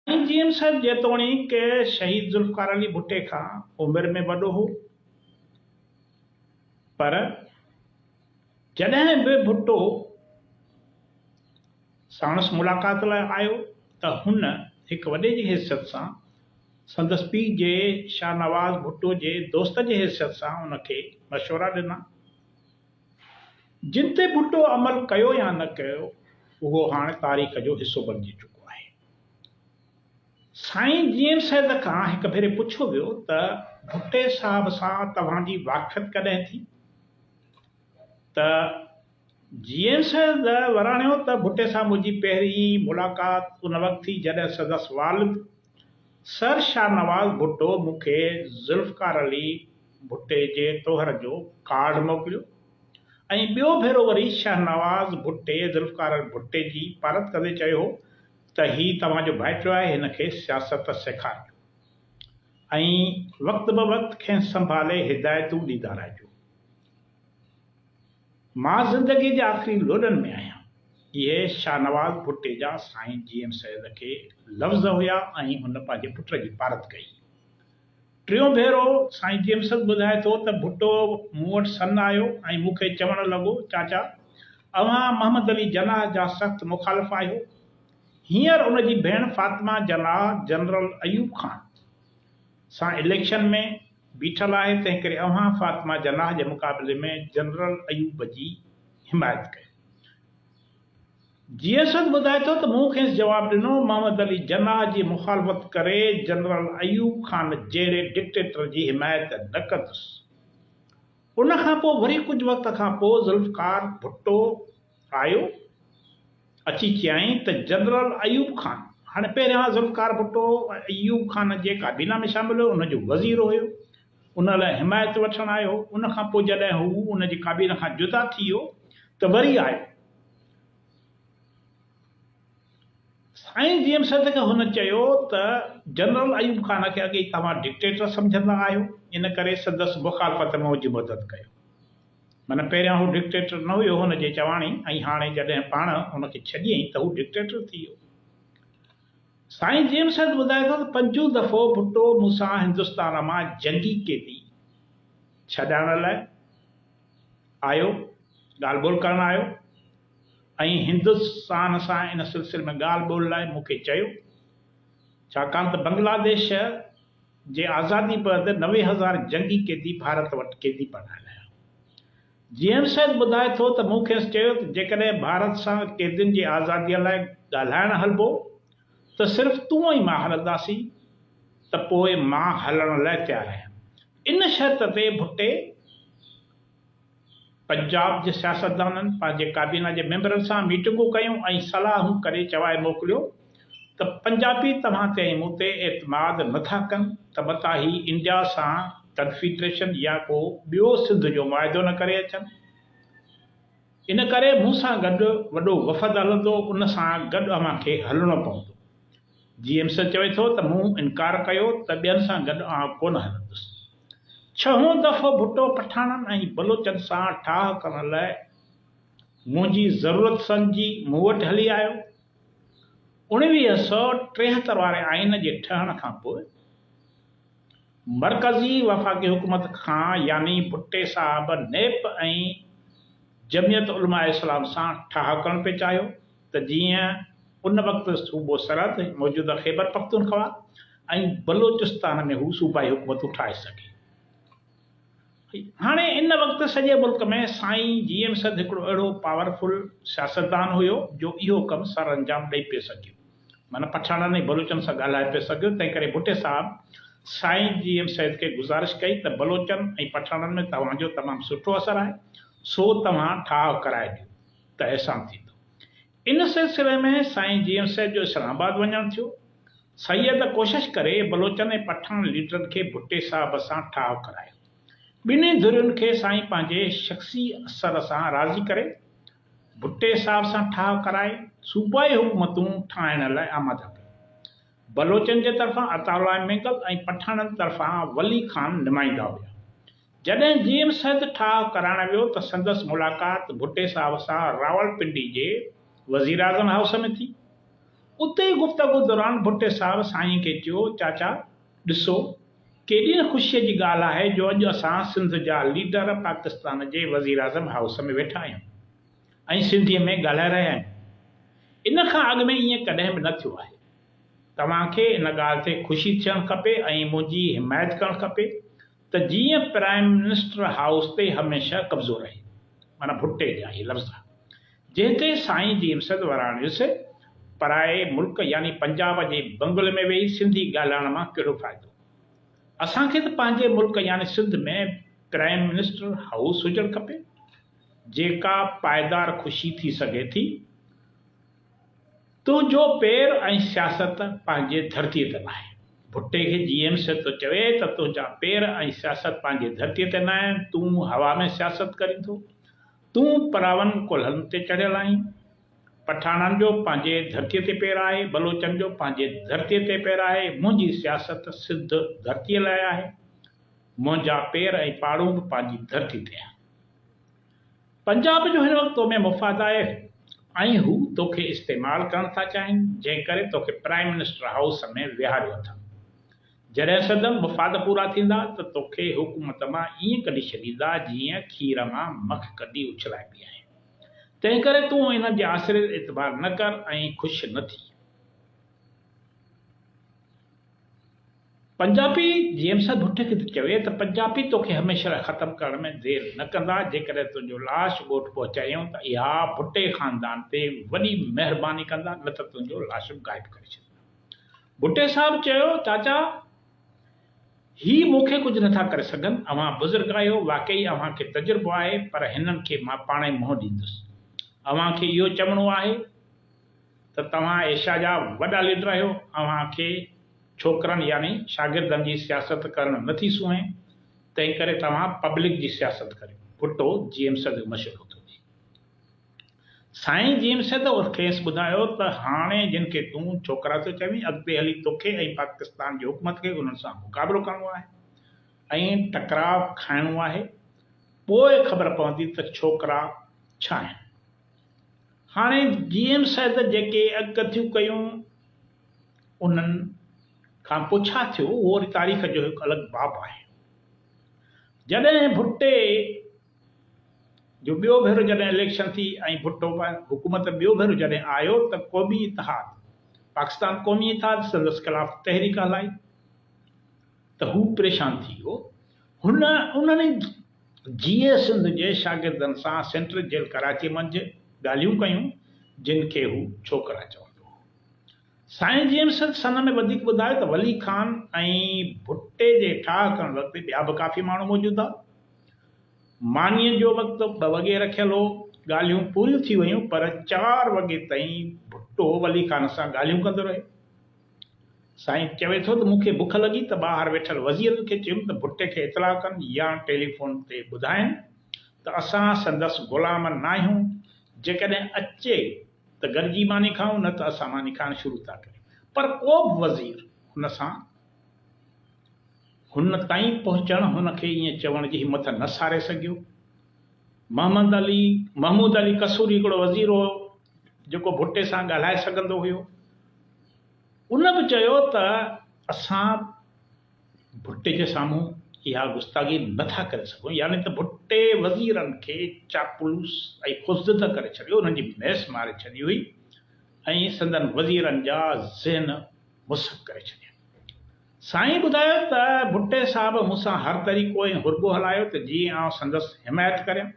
سائين G M صاحب جيتوڻيڪ شهيد ذوالفقار علي ڀٽي کان عمر ۾ وڏو هو پر جڏهن به ڀٽو ساڻس ملاقات لاء آيو ته هن هڪ وڏي جي حيثيت سان سندس پيء جي شاهنواز ڀٽو جي دوست جي حيثيت سان ان کي مشورا ڏنا. جن تي ڀٽو عمل ڪيو يا نه ڪيو اهو هاڻ تاريخ جو حصو بڻجي چڪو آهي. سائين جي ايم سيد کان هڪ ڀيري پڇيو ويو ته ڀٽي صاحب سان توهان جي واقفيت ڪڏهن ٿي ته جي ايم سيد وراڻيو ته ڀٽي سان منهنجي پهرين ملاقات ان وقت ٿي جڏهن سندس والد سر شاهنواز ڀٽو مون کي ذوالفقار علي ڀٽي جي ٽوهر جو ڪارڊ موڪليو ۽ ٻيو ڀيرو وري شاهنواز ڀٽي ذوالفقار علي ڀٽي جي پارت ڪندي چيو هو ته هي توهان جو ڀائٽيو آهي هن کي سياست سيکارجو ۽ وقت بوقت کين سنڀالي هدايتون ڏيندا رهجو. مان زندگي جي آخري لوڏن ۾ آهيان. اهي شاهنواز ڀٽي جا سائين جي ايم سيد کي لفظ هيا ۽ هن پنهنجي پٽ جي پارت ڪئي. ٽيون ڀيرو سائين جي ايم سيد ٻڌائي ٿو ته ڀٽو مون وٽ سن آيو ۽ مون کي چوڻ لڳو چاچا اوهان محمد علي جناح جا سخت مخالف آهيو. هينئر ان جي ڀيڻ فاطمه جناح جنرل ايوب خان سان اليڪشن ۾ بيٺل آهي تنهنڪري اوهان فاطمه جناح جي مقابلي ۾ جنرل ايوب جي حمايت ڪيو. جي اسد ٻڌائي ٿو ته مون کيس جواب ڏنو محمد علي جناح جي مخالفت ڪري جنرل ايوب خان جهڙي ڊڪٽيٽر جي حمايت نه ڪندس. ان کان پوء وري ڪجهه وقت کان پوء ذوالفقار ڀٽو، آيو، اچي چيائين ته جنرل ايوب خان، هاڻي پهريان ذوالفقار ڀٽو ايوب خان جي ڪابينا ۾ شامل هيو، ان جو وزير هيو، ان لاء حمايت وٺڻ آيو هو، ان کان پوء جڏهن هو ان جي ڪابينا کان جدا ٿي ويو ته وري آيو. سائين جي ايم سيد کي هن چيو ته جنرل ايوب خان کي اڳي ئي توهان ڊڪٽيٽر سمجهندا آهيو، ان ڪري سندس مخالفت ۾ منهنجي مدد ڪيو. معنيٰ پهريان هو ڊڪٽيٽر نه هيو هن جي چواڻي ۽ هاڻي جڏهن پاڻ هن کي ڇڏيئين ته هو ڊڪٽيٽر ٿي ويو. سائين جيمس هيڊ ٻڌائي ٿو ته پنجون دفعو ڀٽو مون سان هندستان مان جنگي قيدي ڇڏائڻ لاء آيو ڳالهه ٻولهه ڪرڻ آيو ۽ هندستان سان ان سلسلي ۾ ڳالهه ٻولهه لاء مون کي چيو ڇاڪاڻ ته بنگلاديش جي آزادي بعد نوي هزار جنگي قيدي ڀارت وٽ قيدي بڻايل آهيا. جيئن سيد ٻڌائي ٿو ته مون کيس چيو ته جيڪڏهن ڀارت سان قيدين جي آزادي لاء ڳالهائڻ هلبو ته صرف تون ۽ مان هلنداسين ته پوء مان هلڻ لاء تيار آهيان. ان شرط تي ڀٽي پنجاب جي سياستدانن پنهنجي ڪابينا جي ميمبرن سان ميٽنگون ڪيون ۽ صلاحون ڪري چوائي موڪليو ته پنجابي توهان تي ۽ مون تي اعتماد نه ٿا ڪن ته متان هي انڊيا سان ڪنفيڊريشن يا ڪو ٻيو سنڌ جو معاهدو نه ڪري اچن ان ڪري مون سان گڏ وڏو وفد هلندو ان سان گڏ اوهان کي هلڻو پوندو جيئمسن چوي ٿو ته مون انڪار ڪيو ته ٻين سان گڏ آئون ڪونه هلندس. ڇهون دفعو ڀٽو پٺاڻن ۽ بلوچن سان ٺاهه ڪرڻ لاء منهنجي ضرورت سمجهي مون وٽ هلي آيو. اڻويهه سؤ ٽيهتر واري آئين جي ٺهڻ کان پوء مرڪزي وفاقي حڪومت کان يعني ڀٽي صاحب نيپ ۽ جمعيت علماء اسلام سان ٺاهه ڪرڻ پئي چاهيو. ته جيئن ان وقت صوبو سرحد، موجوده خيبرپختونخوا، ۽ بلوچستان ۾ هو صوبائي حڪومتون ٺاهي سگهي. هاڻي ان وقت سڄي ملڪ ۾ سائين جي ايم سيد هڪڙو اهڙو پاور فل سياستدان هيو جو اهو ڪم سرانجام ڏئي پئي سگهيو. معنيٰ پٺاڻن ۽ بلوچن سان ڳالهائي پئي سگهيو. تنهن ڪري ڀٽي صاحب سائين جي ايم سيد کي گذارش ڪئي ته بلوچن ۽ پٺاڻن ۾ توهان جو تمام سٺو اثر آهي، سو توهان ٺاهه ڪرائي ڏيو. ته احسان ٿيندو. ان سلسلي ۾ سائين جي ايم صيد جو اسلام آباد وڃڻ ٿيو. سيد ڪوشش ڪري بلوچن ۽ پٺاڻ ليڊرن کي ڀٽي صاحب سان ٺاهه ڪرايو. ٻنهي ڌرين کي سائين پنهنجي شخصي اثر سان راضي ڪري ڀٽي صاحب سان ٺاهه ڪرائي صوبائي حڪومتون ٺاهڻ لاء آماده ڪيون. بلوچن جي طرفان عطاء الله مينگل ۽ پٺاڻن طرفان ولي خان نمائندا هيا. جڏهن جي ايم سيد ٺاهه ڪرائڻ ويو ته سندس ملاقات ڀٽي صاحب سان راولپنڊي جي وزيراعظم هائوس ۾ ٿي. اتي ئي گفتگو دوران ڀٽي صاحب سائين کي چيو چاچا ڏسو ڪيڏي نه خوشيء جي ڳالهه آهي جو اڄ اسان سنڌ جا ليڊر پاڪستان جي وزيراعظم هائوس ۾ ويٺا آهيون ۽ سنڌيء ۾ ڳالهائي رهيا آهيون. ان کان اڳ ۾ ائين ڪڏهن به نه ٿيو آهي. توهان کي ان ڳالهه تي خوشي ٿيڻ کپي ۽ منهنجي حمايت ڪرڻ کپي. ته جيئن پرائم منسٽر هائوس تي هميشه قبضو رهي. معنيٰ ڀٽي جا اهي لفظ ها، جنهن تي سائين جيمس وراڻيس، پرائي ملڪ يعني پنجاب جي بنگلي ۾ ويهي سنڌي ڳالهائڻ مان ڪهڙو فائدو؟ اسان کي ته پنهنجي ملڪ يعني سنڌ ۾ پرائم منسٽر هائوس هجڻ کپي، جيڪا پائدار خوشي ٿي سگهي ٿي. تنهنجو پير ۽ سياست پنهنجي ڌرتي تي ناهي. ڀٽي کي جي ايم سي ٿو چوي ته تنهنجا پير ۽ سياست پنهنجي ڌرتي تي ناهن، تون هوا ۾ سياست ڪرين ٿو. تون پراون ڪلهن تي چڙهيل آهين. پٺاڻن جو پنهنجي ڌرتي تي پير آهي، بلوچن جو پنهنجي ڌرتي تي پير آهي، منهنجي سياست سڌ ڌرتي لاء آهي. منهنجا پير ۽ پاڙون به پنهنجي ڌرتي تي آهن. پنجاب جو هن وقت تو ۾ مفاد آهي ۽ هو توکي استعمال ڪرڻ ٿا چاهين جنهن ڪري توکي پرائيم منسٽر هائوس ۾ ويهاريو اٿن جڏهن سندن مفاد پورا ٿيندا ته توکي حڪومت مان ائين ڪڍي ڇڏيندا جيئن کير مان مک ڪڍي اڇلائبي آهي تنهن ڪري تون انهن جي آسري تي اعتبار نه ڪر ۽ خوش نه ٿي. پنجابي جيمس ڀٽي کي ٿو چوي ته پنجابي توکي هميشه لاء ختم ڪرڻ ۾ دير نه ڪندا، جيڪڏهن تنهنجو لاش ڳوٺ پهچايئون ته اها ڀٽي خاندان تي وڏي مهرباني ڪندا نه ته تنهنجو لاش به غائب ڪري ڇڏيندا. ڀٽي صاحب چيو چاچا هي مون کي ڪجهه نٿا ڪري سگهن، اوهان بزرگ آهيو، واقعي اوهان کي تجربو آهي پر هنن کي مان پاڻهي منهن ڏيندس. اوهان کي اهو چوڻو آهي. ته توهان ايشيا جا وڏا ليڊر آهيو، اوهان کي ڇوڪرن يعني شاگردن جي سياست ڪرڻ نه ٿي سونهين، تنهنڪري توهان پبلڪ جي سياست ڪريو. ڀٽو جيئم سيد جو مشورو ٿو ڏئي. سائين جيئم سيد کيس ٻڌايو ته هاڻي جن کي تون ڇوڪرا ٿيو چوين، اڳتي هلي توکي ۽ پاڪستان جي حڪومت کي انهن سان مقابلو ڪرڻو آهي ۽ ٽڪراء کائڻو آهي، پوء خبر پوندي ته ڇوڪرا ڇا آهن. هاڻي جي ايم سيد جيڪي اڳڪٿيون ڪيون انهن کان پوء ڇا ٿيو اهو وري تاريخ جو هڪ الڳ باب آهي. جڏهن ڀٽي جو ٻيو ڀيرو جڏهن اليڪشن ٿي ۽ ڀٽو حڪومت ٻيو ڀيرو جڏهن آيو ته قومي اتحاد پاڪستان قومي اتحاد سندس خلاف تحريڪ هلائي ته هو پريشان ٿي ويو هن انهن جيئي سنڌ جي شاگردن سان سينٽرل جيل ڪراچي منجهه ڳالهيون ڪيون، جن کي هو ڇوڪرا چوندو هو. سائين جيمس سن ۾ وڌيڪ ٻڌايو ته ولي خان ۽ ڀٽي جي ٺاهه ڪرڻ وقت ٻيا به ڪافي ماڻهو موجود هئا. مانيء جو وقت ٻه وڳي رکيل هو. ڳالهيون پوريون ٿي ويون پر چار وڳي تائين ڀٽو ولي خان سان ڳالهيون ڪندو رهيو. سائين چوي ٿو ته مون کي بک لڳي ته ٻاهر ويٺل وزيرن کي چيم ته ڀٽي کي اطلاع ڪن يا ٽيليفون تي ٻڌائين ته اسان سندس غلام ناهيون، جيڪڏهن اچي ته گڏجي ماني کائون نه ته اسان ماني کائڻ شروع ٿا ڪريون. پر ڪو به وزير هن سان هن تائين پهچڻ هن کي ائين چوڻ جي همٿ نه ساري سگهيو. محمد علي محمود علي قصوري هڪڙو وزير هو جيڪو ڀٽي سان ڳالهائي سگهندو هيو. ان به چيو ته اسان ڀٽي جي سامهون اها گستاخي نه ٿا ڪري سگهون يعني ته ڀٽي وزيرن کي چاپلوس ۽ خوفزده ڪري ڇڏيو، انهن جي ميس ماري ڇڏي هئي ۽ سندن وزيرن جا ذهن مسخ ڪري ڇڏيا. سائين ٻڌايو ته ڀٽي صاحب مون سان هر طريقو ۽ حربو هلايو ته جيئن آئون سندس حمايت ڪريان.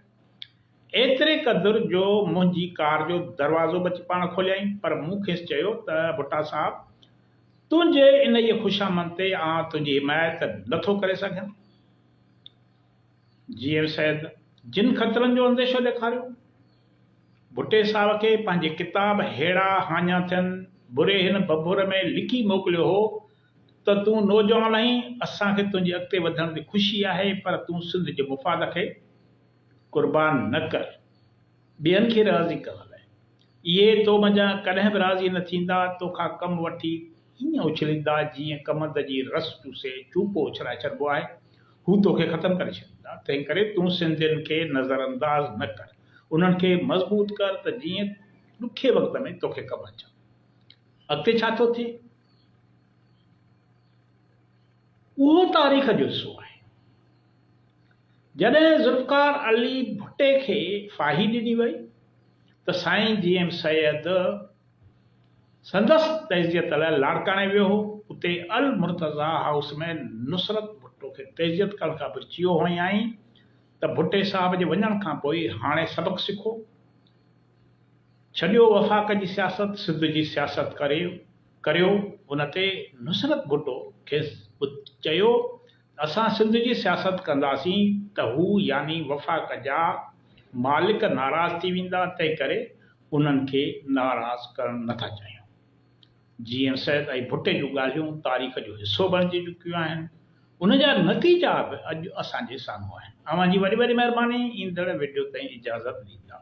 ايتري قدر جو منهنجي ڪار جو دروازو به اچي پاڻ کوليائين، پر مون کيس چيو ته ڀٽا صاحب تنهنجي انهيء خوشامند تي آئون تنهنجي حمايت نٿو ڪري سگهيان. جي ايم سيد جن خطرن جو انديشو ڏيکاريو، ڀٽي صاحب کي پنهنجي ڪتاب هيڙا هاڃا ٿين بري هن ڀڀور ۾ لکي موڪليو هو ته تون نوجوان آهين، اسان کي تنهنجي اڳتي وڌڻ تي خوشي آهي، پر تون سنڌ جي مفاد کي. قربان نه ڪر ٻين کي راضي ڪرڻ لاء. اهي تو منجهان ڪڏهن به راضي نه ٿيندا، تو کان ڪم وٺي ائين اڇليندا جيئن ڪمند جي رس چوسي چوپو اڇلائي ڇڏبو آهي. هو تو کي ختم ڪري ڇڏيندا. تنهنڪري تون سنڌين کي نظرانداز نه ڪر. انهن کي مضبوط ڪر ته جيئن ڏکي وقت ۾ تو کي ڪم اچن. اڳتي ڇا ٿو ٿئي؟ اهو تاريخ جو حصو آهي. جڏهن ذوالفقار علي ڀٽي کي ڦاهي ڏني وئي ته سائين جي ايم سيد سندس تعزيت لاء لاڙڪاڻي ويو هو، اتي المرتضيٰ هائوس ۾ نصرت ڀٽو کي تعزيت ڪرڻ کان پوء چيو هئائين ته ڀٽي صاحب جي وڃڻ کان پوء هاڻي سبق سکو، ڇڏيو وفاق جي سياست، سنڌ جي سياست ڪريو، ان تي نصرت ڀٽو کيس چيو اسان سنڌ جي سياست ڪنداسين ته هو يعني وفاق جا مالڪ ناراض ٿي ويندا تنهنڪري انهن کي ناراض ڪرڻ نه ٿا چاهيون. جي ايم سيد ۽ ڀٽي جون ڳالهيون تاريخ جو حصو بڻجي چڪيون آهن ان جا نتيجا به اڄ اسان جي سامهون آهن. اوهان جي وڏي وڏي مهرباني ايندڙ وڊيو تائين اجازت ڏيندا.